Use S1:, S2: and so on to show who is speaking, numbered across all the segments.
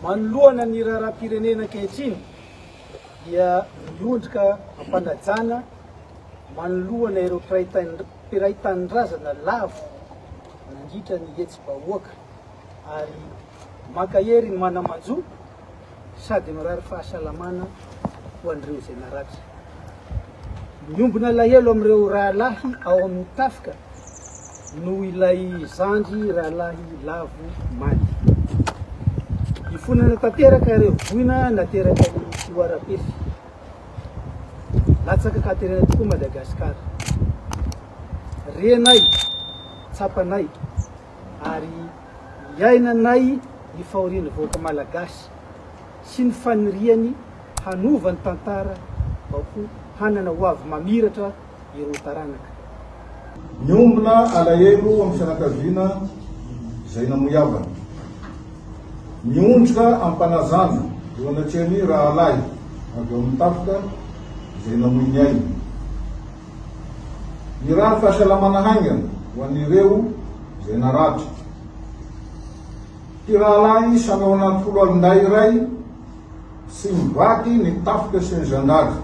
S1: Manoloana ny raharaham-pirenena ankehitriny dia miondrika am-panajana manoloana ireo mpiray tanindrazana lavo nandritra ny hetsi-bahoaka ary mankahery ny mana-manjo sady mirary fahasalamana ho an'ireo izay naratra. Miombona alahelo amin'ireo rahalahy ao amin'ny tafika noho ilay zandry rahalahy lavo maly. Ifonana tanteraka ireo voina naterakan'ny fihoaram-pefy. Latsaka katerena tokoa Madagasikara. Renay, tsapanay, ary iainanay ny fahorian'ny vahoaka malagasy sy ny faniriany hanova ny tantara mba ho hanana ho avy mamiratra ireo taranaka.
S2: Miombona alahelo amin'ny fianakaviana izay namoy havany. Miondrika am-panazana eo anatrehan'ny rahalahy avy ao amin'ny tafika izay namoy ny ainy. Mirary fahasalamana haingana ho an'ireo izay naratra. Mpirahalahy samy ao anaty foloalindahy iray Tsy mivady ny tafika sy ny zandary.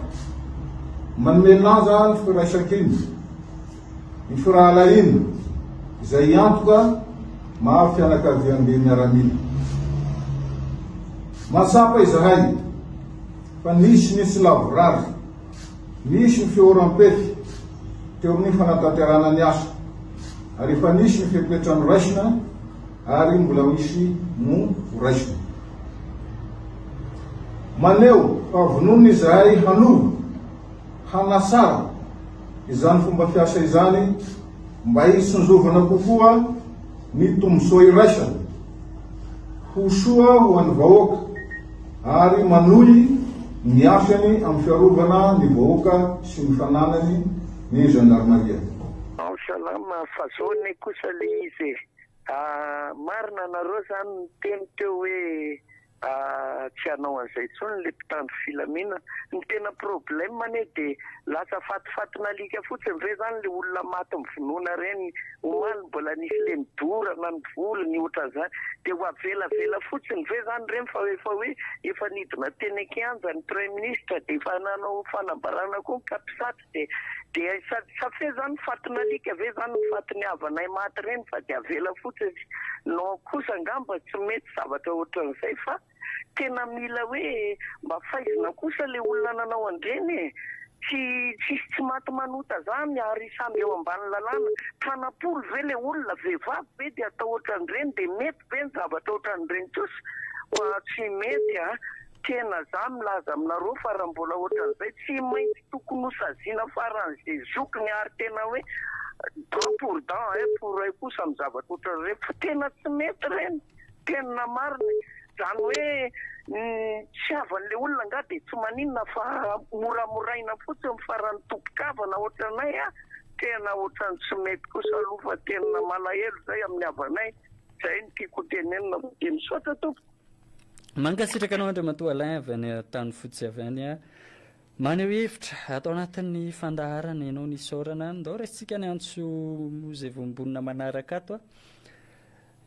S2: Manome lanja ny firaisankina, ny firahalahiana, izay antoka maha fianakaviambe miaramila. Mahatsapa izahay fa nisy ny tsy lavorary, nisy ny fihoram-pefy teo amin'ny fanatanterahana ny asa, ary efa nisy ny fepetra noraisina ary mbola misy no horaisina. Maneho fa vonona izahay hanova, hanatsara, izany fomba fiasa izany mba hitsinjovana kokoa ny tombontsoa iraisana, ho soa ho an'ny vahoaka ary manohy ny asany amin'ny fiarovana ny vahoaka sy ny fananany ny Zandarimaria. Ao salama
S3: fa zao anie kosa le izy e! Marina nareo zany niteny teo hoe tsy hanao an'izay tsony le mpitandro filaminana. Ny tena problème anie de lasa fatifatin'alika fotsiny ve zany le olona maty mivonoana reny omaly mbola nisy le nidorana ny volony otran'zany de ho avelavela fotsiny ve zany reny fa efa hoe efa nidina teny an-kianja ny praiministra de efa nanao fanambarana koa ny kapisatra. de de sady sa fe zany fatin alika ve zany ny fatin'ny havanay maty reny fa de avela fotsiny non kosa angamba tsy mety zavatra otran'izay fa tena mila hoe mba faizina kosa le olona nanao andreny e tsy tsisy tsy maty manota zany ary samby eo ambany lalàna tanapolo ve le olona vehivavy ve de atao otran'ireny de mety ve ny zavatra otran'ireny kosa oa tsy mety a Tena za milaza aminareo fa raha mbola ohatran'izay tsy maintsy tokony ho saziana faran'ze zokiny ary tena hoe dent pour dent oeil pour oeil kosa amin'ny zavatra ohatran'ireny fa tena tsy mety ireny tena marina e! Zany hoe ny fitiavan'le olona angaha dia tsy maninona fa moramoraina fotsiny fa raha ny tompon-kavana ohatranay a! tena ohatran'ny tsy mety kosa aloha fa tena malahelo zay amin'ny havanay, zay no tiako ho tenenina fa dia misaotra tompoko. Mankasitraka
S4: anao Andriamatoa Alain avy any Antanifotsy avy any a. Maneho hevitra ato anatin'ny fandaharana ianao nisaorana. Ndao raisintsika ny antso izay voambonina manaraka ato a.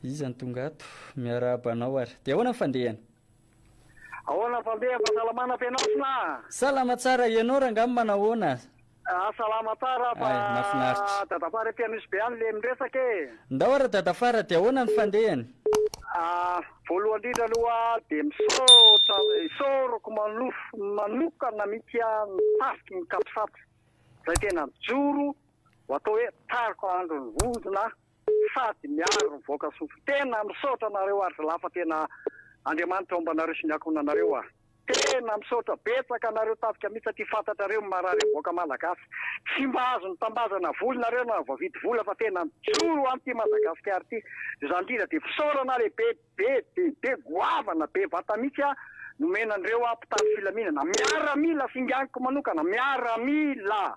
S4: Iza no tonga ato? Miarahaba anao ary. Dia ahoana ny fandehany?
S5: Ahoana ny fandehany? Fahasalamana am-pianao sna? Salama tsara,
S4: ianao rangahy manahoana? Ah salama
S5: tsara fa Ay, mafinaritra. dadafara ety Anosibe any le miresaka e. Ndao ary dadafara
S4: dia ahoana ny fandehany? Ah
S5: voalohany indrindra aloha dia misaotra isaorako manofy manokana mihitsy aho ny tafika ny capsat izay tena mijoro ho atao hoe tariko handro ny vondrona Sady miaro ny vahoaka sompy. Tena misaotra anareo ary zalahy fa tena Andriamanitra homba anareo sy ny ankohonanareo a! Tena misaotra betsaka anareo tafika mihitsy satria fantatrareo ny marary ny vahoaka malagasy. Tsy mba azony tambazana voly nareo na voavidy vola fa tena mijoro ho an'ity Madagasikara ity. Izany indrindra dia fisaorana lehibe be dia be goavana be vata mihitsy a nomena an'ireo a mpitandro filaminana. Miaramila singaniko manokana. Miaramila.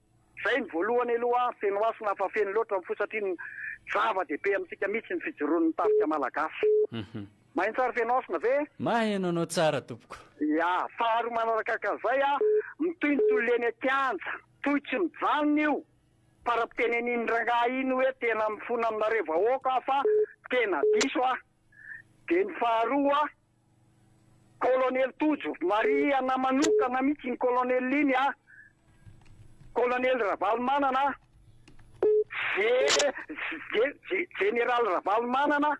S5: Zay ny voalohany aloha a, feno hasina fa feno loatra ny fo satria ny zava dehibe amintsika mihitsy ny fijoroan'ny tafika malagasy. Mahintsara feno hasina ve? Maheno anao tsara
S4: tompoko. Ya, faharoa
S5: manarakakan'izay a, mitohy ny tolona eny an-kianja, toy tsy mijanona io, fara-pitenenin'ny rangahy iny hoe tena mifona aminareo vahoaka aho fa tena diso aho. Dia ny faharoa. Kolonely Tojo, marihana manokana mihitsy iny kolonely iny a! Kolonely Ravalomanana je-je-je je jeneraly Ravalomanana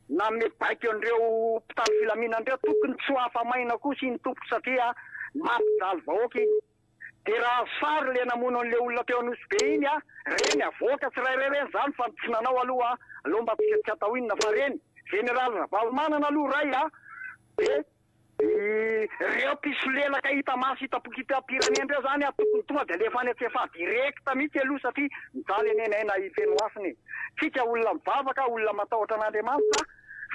S5: nanome baiko an'ireo mpitandro filaminana ireo, tokony tsy ho afa-maina kosa iny tompoko satria mampijaly vahoaka iny. Dia raha fary le namono an'le olona teo Anosy be iny a, reny avoaka tsirairay reny zany fa tsy nanao aloha a, aleo mba tsy tsy atao inona fa reny Général Ravalomanana aloha ray a, de ireo mpisolelaka hita maso hita pokitam-pirenena ireo zany a tokony tonga de alefa any antsefa direct mihitsy aloha satria mijaly anie ny aina hifeno hasina e, tsika olona mivavaka, olona matahotra an'Andriamanitra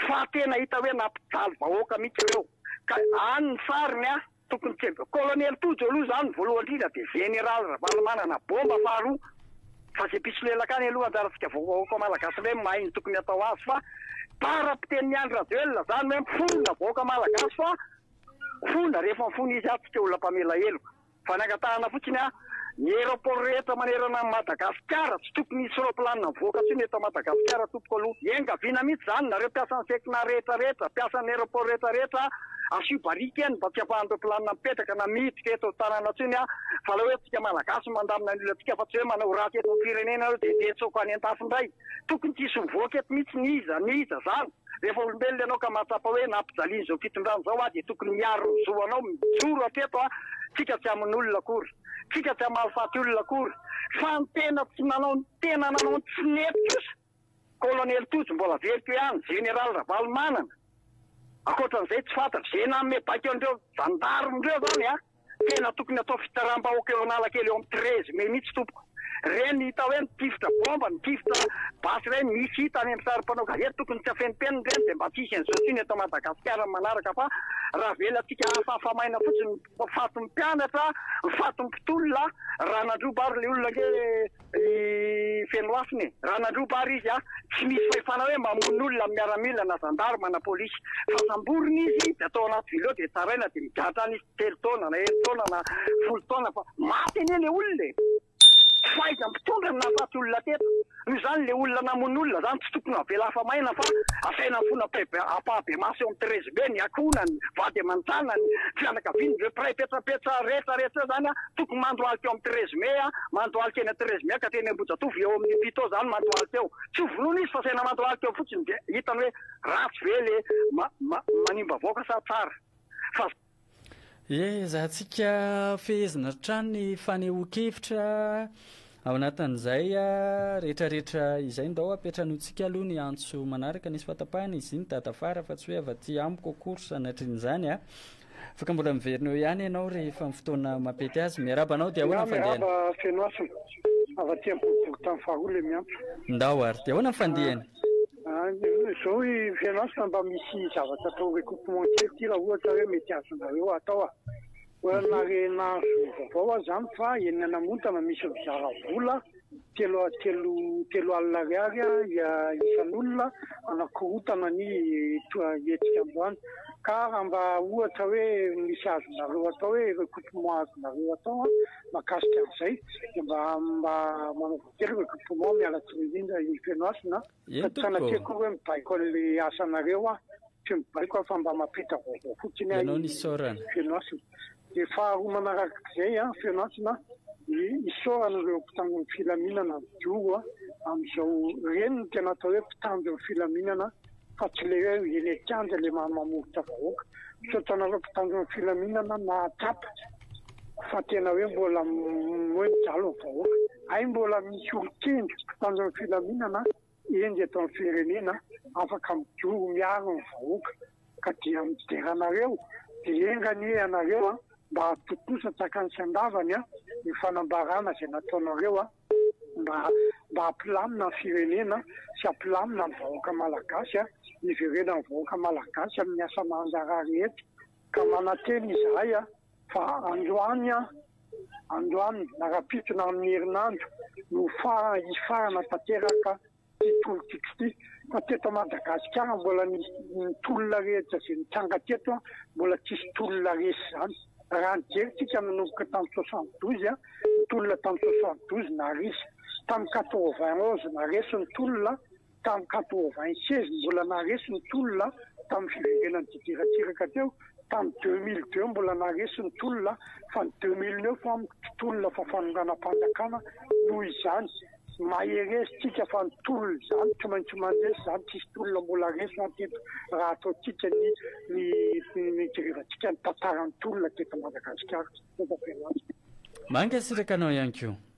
S5: fa tena hita hoe nampijaly vahoaka mihitsy ireo ka any ny sariny a. Tokony tsy eny, kolonely Tojo aloha izany voalohany indrindra dia Jeneraly Ravalomanana bomba faharoa fa izay mpisolelaka any aloha anjarantsika vahoaka Malagasy indray no mahay ny tokony hatao azy fa Bara mpitenin'i Andry Rajoelina izany hoe mifonona vahoaka Malagasy fa fona rehefa mifono izy atsika olona mpamela heloka fa ny angatahana fotsiny an Ny aéroport rehetra manerana an'i Madagasikara tsy tokony hisy roplanina mivoaka intsony eto Madagasikara tompoko aloha. Iangaviana mihitsy izany nareo mpiasan'ny Fecna rehetra rehetra, mpiasan'ny aéroport rehetra rehetra asio barika eny mba tsy ampahan'ireo planina mipetraka na miditra eto tanàna intsony a! Fa ilay hoe antsika malagasy no mandamina ny olantsika fa tsy hoe manao ratsy eto amin'ny firenena nareo dia hiantsoko any an-dafy indray. Tokony tsy hisy mivoaka eto mihitsy n'iza n'iza izany. Rehefa olombelona ianao ka mahatsapa hoe nampijalian'izao fitondrana izao aho dia tokony miaro ny zo anao mijoro hatreto aho, tsika tsy hamono olona akory, tsika tsy hamalifaty olona akory fa ny tena tsy nanao ny tena nanao ny tsy nety kosa Kolonely Tojo mbola very teo ihany, Jeneraly Ravalomanana, ankoatran'izay tsy fantatro, izay nanome baiko an'ireo zandarmes ireo izany an! Tena tokony atao fitsaram-bahoaka eo Analakely eo amin'ny treize mai mihitsy tompoko. Reny hita hoe mitifitra bomba, mitifitra basy ireny misy hita any amin'ny sary mpanao gazety tokony tsy afenimpenina ireny dia mba tsy hisy an'izao intsony eto Madagasikara ny manaraka fa ravelantsika hafahafa maina fotsiny ny fatin'ny mpianatra, ny fatin'ny mpitolona raha nandroba ary ilay olona ange Ry Fenoafina e! Raha nandroba ary izy an! Tsy misy fahefana hoe mamono olona amin'ny miaramila na zandary na polisy. Fa samborina izy dia atao anaty vileo dia tsaraina dia migadra any izy telo taona na herintaona na folo taona fa maty anie ilay olona e! Tsy fahaizan'ny mpitondra ny nahafaty olona teto. Noho izany ilay olona namono olona izany tsy tokony havela hafa maina fa asaina mifono ampahabemaso eo amin'ny terezibe ny akohonany, vady aman-janany, fianakaviany, ireo mpiray petsampetsa rehetra rehetra ireo izany an! Tokony mandohalika eo amin'ny treize mai a, mandohalika eny treize mai ka teny Ambohijatovo eo amin'ny pito izany mandohalika eo. Tsy ho vonoina izy fa asaina mandohalika eo fotsiny dia hitany hoe ratsy ve le manimba vahoaka sa tsara. Fa. Ezahantsika
S4: fehezina hatrany ny fanehoan-kevitra Ao anatin'izay rehetrarehetra izay ndao apetranutsika aloha ny antso manaraka nisy fatapahana izy iny dada fara fa tsy hoe avy aty amiko akory sanatrian'izany a. Afaka mbola miverina eo ihany ianao rehefa ny fotoana mampety azy. Miarahaba anao dia ahoana ny fandehany? Miarahaba Fenohasina.
S5: Avy aty amin'ny boriborintany faharoa ilay miantso. Ndao ary. Dia ahoana
S4: ny fandehany?
S5: Izao ry Fenohasina mba misy zavatra atao recoupement kely ity raha ohatra hoe mety azonareo atao a. Olana re nahazo vaovao aho zany fa eny Anamontana misy mpizara vola telo telo telo alina ariary isan'olona hanakorontana ny hetsika androany ka raha mba ohatra hoe misy azonareo atao hoe recoupement azonareo atao mahakasika an'izay dia mba mba manaova kely recoupement miala tsiny indrindra i Fenohasina a. Eny tompoko ô! Fa tsy sanatria akory hoe mibaiko an'ilay asanareo aho, tsy mibaiko aho fa mba mampita vaovao fotsiny aho Ianao ny isaorana.
S4: feno hasina.
S5: Dia faharoa manarak'izay an, feno hasina an, dia isaorana ireo mpitandron'ny filaminana mijoro amin'izao, ireny no tena atao hoe mpitandron'ny filaminana fa tsy ilay hoe eny an-kianja ilay mamomovotra vahoaka. Misaotra anareo mpitandron'ny filaminana nahatsapa. fa tena hoe mbola moe mijalo ny vahoaka. Hay mbola misy olon-kendry mpitandro ny filaminana enjy eto amin'ny firenena afaka mijoro miaro ny vahoaka ka dia midera anareo dia enga anie ianareo a mba tontosa tsakany sy andavany a io fanambarana izay nataonareo a mba mba hampilamina ny firenena sy hampilamina ny vahoaka malagasy a hiverenan'ny vahoaka malagasy amin'ny asa mahanjara rehetra Ka manantena izahay fa androany, androany na rahampitony amin'ny herinandro no hifarana tanteraka ity tolo-tiako ity. Fa teto Madagasikara mbola ny tolona rehetra izay nitranga teto mbola tsy hisy tolona resy izany. Raha nijery isika nanomboka tamin'ny soixante douze, ny tolona tamin'ny soixante douze naharesy, tamin'ny quatre vingt onze naharesy ny tolona, Tamin'ny quatre-vingt-seize, mbola naharesy ny tolona tamin'ny fiverenan'ny Didier Ratsiraka teo, tamin'ny deux mille deux mbola naharesy ny tolona, fa ny deux mille neuf amiko tsy tolona fa fanonganam-panjakana, noho izany maheresitsika fa ny tolona izany tsy maintsy mandresy izany, tsisy tolona mbola resy mantsy eto raha ataontsika ny ny nijerevantsika ny tantaran'ny tolona teto Madagasikara.
S4: Mankasitraka anao ihany koa.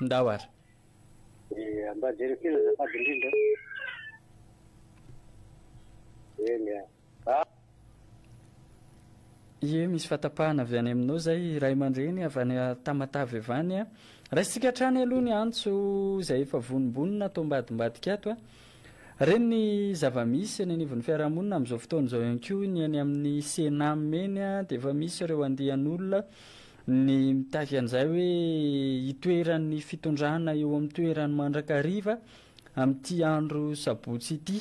S6: ndao ary.
S4: Dia
S6: mba jereo kely azafady indrindra
S4: a. Eny a. A. Ie misy fatapahana avy any aminao zay ray aman-dreny avy any Tamatave avy any a. Raisintsika hatrany aloha ny antso izay efa vonombonona ato ambadimbadika ato a. Reny ny zava-misy eny anivon'ny fiarahamonina amin'izao fotoana izao ihany koa ny any amin'ny Cenam eny a dia efa misy ireo andian'olona Ny mitafy an'izay hoe hitoeran'ny fitondrana eo amin'ny toerany mandrakariva amin'ity andro sabotsy ity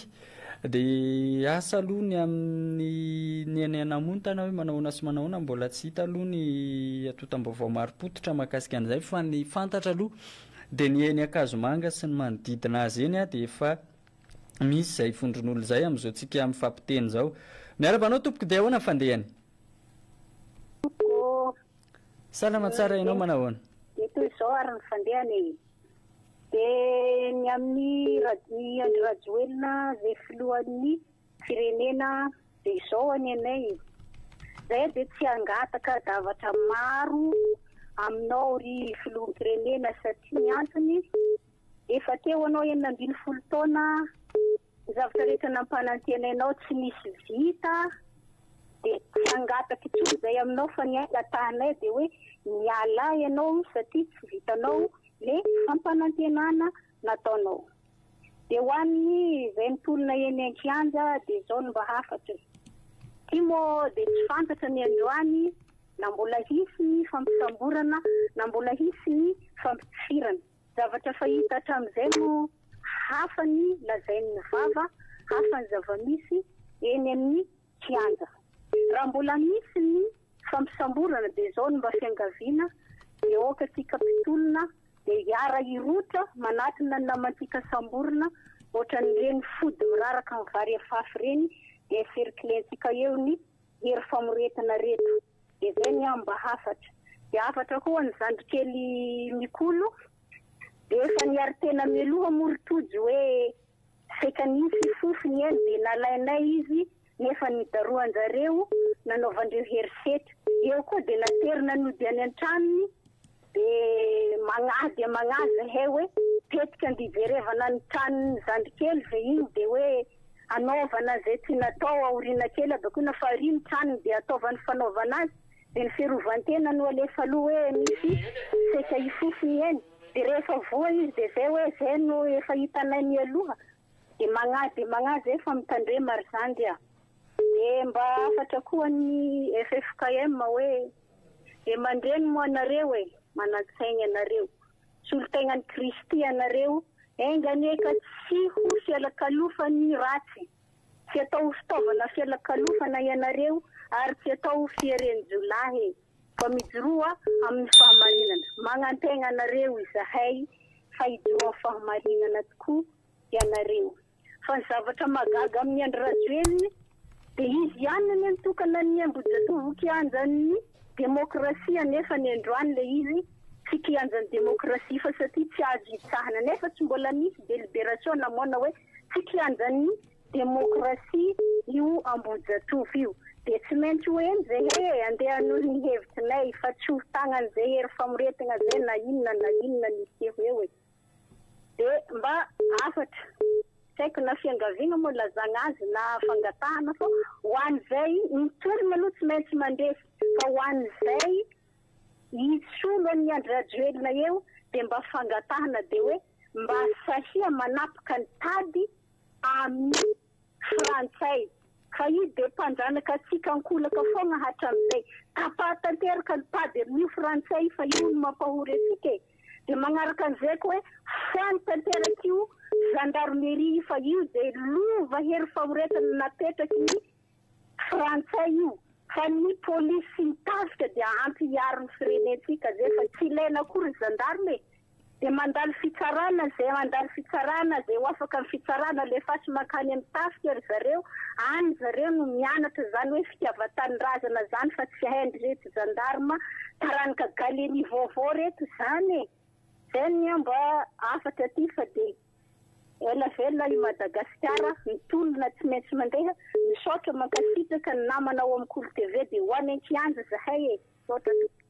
S4: dia asa aloha ny amin'ny ny any Anamontana hoe manao ahoana sy manao ahoana, mbola tsy hita aloha ny atotam-baovao marim-pototra mahakasika an'izay fa ny fantatra aloha dia ny eny Ankazomanga sy ny manodidina azy eny dia efa misy izay vondron'olona izay amin'izao tsika mifampiteny izao. Miara-manao tompoko dia ahoana ny fandehany? Salama tsara ianao manahoana? Dia toy izao ary
S7: ny fandehany e. Dia ny amin'ny i Andry Rajoelina izay filohan'ny firenena dia izao anie anay e. Izahay dia tsy hangataka zavatra maro aminao ry filoham-pirenena satria ny antony efa teo ianao enina ambin'ny folo taona Ny zavatra rehetra nampanantenainao tsy nisy vita dia tsy hangataka intsony izahay aminao fa ny angatahanay dia hoe mialà ianao satria tsy vitanao le fampanantenana nataonao. Dia ho an'ny izay mitolona eny an-kianja dia izao no mba hafatra e. Ity moa dia tsy fantatra ny androany na mbola hisy ny fampisamborana na mbola hisy ny fampitifirana. Zavatra fahita hatramin'izay no hafa ny lazain'ny vava, hafa ny zava-misy eny amin'ny kianja. Raha mbola misy ny fampisamborana dia izao no mba fiangaviana, dia aoka antsika mpitolona dia hiara-hirotra manatona ny namantsika samborina, ohatran'ireny fody miraraka ny vary afafy ireny dia cerclentsika eo ny hery famoretana reto. Dia izay ny ahy mba hafatra. Dia hafatra koa ho an'i zandry kely Mikolo, dia efa niary tena mialoha moa ry Tojo hoe saika nisy fofony eny dia nalainay izy nefa nidarohan-jareo nanaovan-dreo herisetra. Eo koa dia naterina nody any an-tranony. De magnahy dia magnahy zahay hoe tetika andihijerevana ny tranon'ny zandry kely ve iny dia hoe hanaovana izay tsy natao aoriana kely habakoina fa ary ny tranony dia ataovany fanaovana azy dia ny fiarovan-tena no alefa aloha hoe misy setra hifofony eny dia rehefa voa izy dia izay hoe izay no efa hitanay mialoha dia magnahy dia magnahy zay fa mitandrema ry zandry a dia mba hafatra koa ny ffkm hoe Dia mandreny moa ianareo e! Manan-tsaina ianareo! Solon-tenan'i Kristy ianareo! Enga anie ka tsy ho fialakalofan'ny ratsy! Tsy atao ho fitaovana fialakalofana ianareo ary tsy atao ho fierenjiolahy e! Fa mijoroa amin'ny fahamarinana! Magnantegna anareo izahay fa hijoroa amin'ny fahamarinana tokoa ianareo! Fa ny zavatra mahagaga amin'i Andry Rajoelina dia izy ihany no nitokana ny Ambohijatovo ho kianjan'ny demokrasia nefa ny androany ilay izy tsy kianjan'ny demokrasia fa satria tsy azo hitsahana nefa tsy mbola nisy deliberation namoana hoe tsy kianjan'ny demokrasia io Ambohijatovo io dia tsy maintsy ho eny zay he andeha hanohy ny hevitrinay fa tsy ho tagnany zay hery famoretagna zay na inona na inona misy eo eo e. Dia mba hafatra, tsy haiko na fiangaviana moa ilazana azy na fangatahana fa ho an'izay, ny tolona aloha tsy maintsy mandresy fa ho an'izay hisolo an'i Andry Rajoelina eo dia mba fangatahana dia hoe mba sahia manapaka ny tady amin'ny Frantsay. Fa i dia mpandranaka antsika ankolaka foagna hatramizay. Tapaha tanteraka ny pady amin'io frantsay io fa io no mampahory antsika e. Dia magnaraka an'izay koa hoe foagny tanteraka io gendarmerie io fa io dia lova hery famoretana napetraky ny frantsay io fa ny polisy sy ny tafika dia ampy hiaro ny firenentsika zay fa tsy ilaina akory ny gendarme e. Dia mandalo fitsarana zay mandalo fitsarana zay ho afaka ny fitsarana alefaso makany am tafika ry zareo any zareo no mianatra zany hoe fitiavatanindrazana zany fa tsy haindry reto zandarma taranaka galeni vaovao reto zany e zay ny amba afatra aty fa de ela vela i madagasikara mitolona tsy maintsy mandeha misaotra mankasitraka ny namana ao am kolo tv de ho any an kianja zahay e misaotra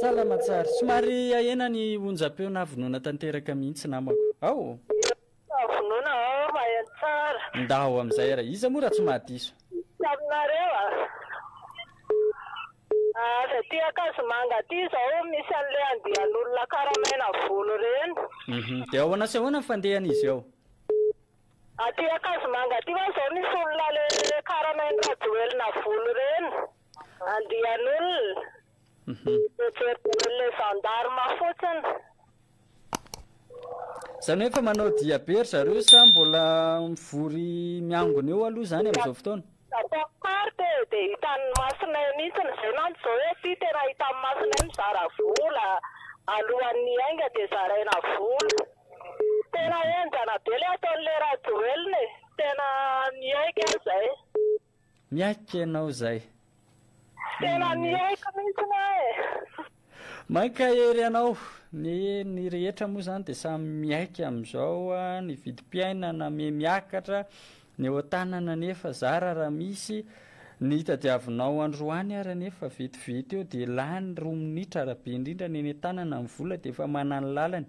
S4: Salama tsara. Somary ahena ny onjam-peo na vonoina tanteraka mihitsy namako. Ao! Fa vonoina
S8: aho fa aheno tsara. Ndao amin'izay ary.
S4: Iza moa raha tsy mahadiso? Tsy aminareo a!
S8: Avy aty Ankazomanga aty izao misy an'ilay andian'olona karamaina vono ireny. Dia ahoana
S4: sy ahoana ny fandehan'izy ao?
S8: Aty Ankazomanga aty ho'a zao misy olona le karamain'i Rajoelina volo reny, andian'olona, dia jerijereny le gendarme fotsiny.
S4: Zany hoe efa manao dia be ry zareo sa mbola mivory miangona eo aloha zany amzao fotoana? Tapaka Maro be
S8: dia hitan'ny masonay mihitsy ny venan'ny Zoesy tena hitan'ny masonay mizara vola alohan'ny hiainga dia zaraina vola tena henjana be ilay ataon'ilay Rajoelina e! tena miaiky aho izay. Miaiky
S4: ianao izay. Tena
S8: miaiky mihitsy aho e!
S4: Mankahery anao. Ny ny rehetra moa izany dia samy miaiky amin'izao a, ny vidim-piainana miha miakatra, ny eo an-tanana anefa zara raha misy. Ny tadiavinao androany ary anefa vetivety eo dia lany roa minitra raha be indrindra, ny eny an-tanana ny vola dia efa manana ny lalany.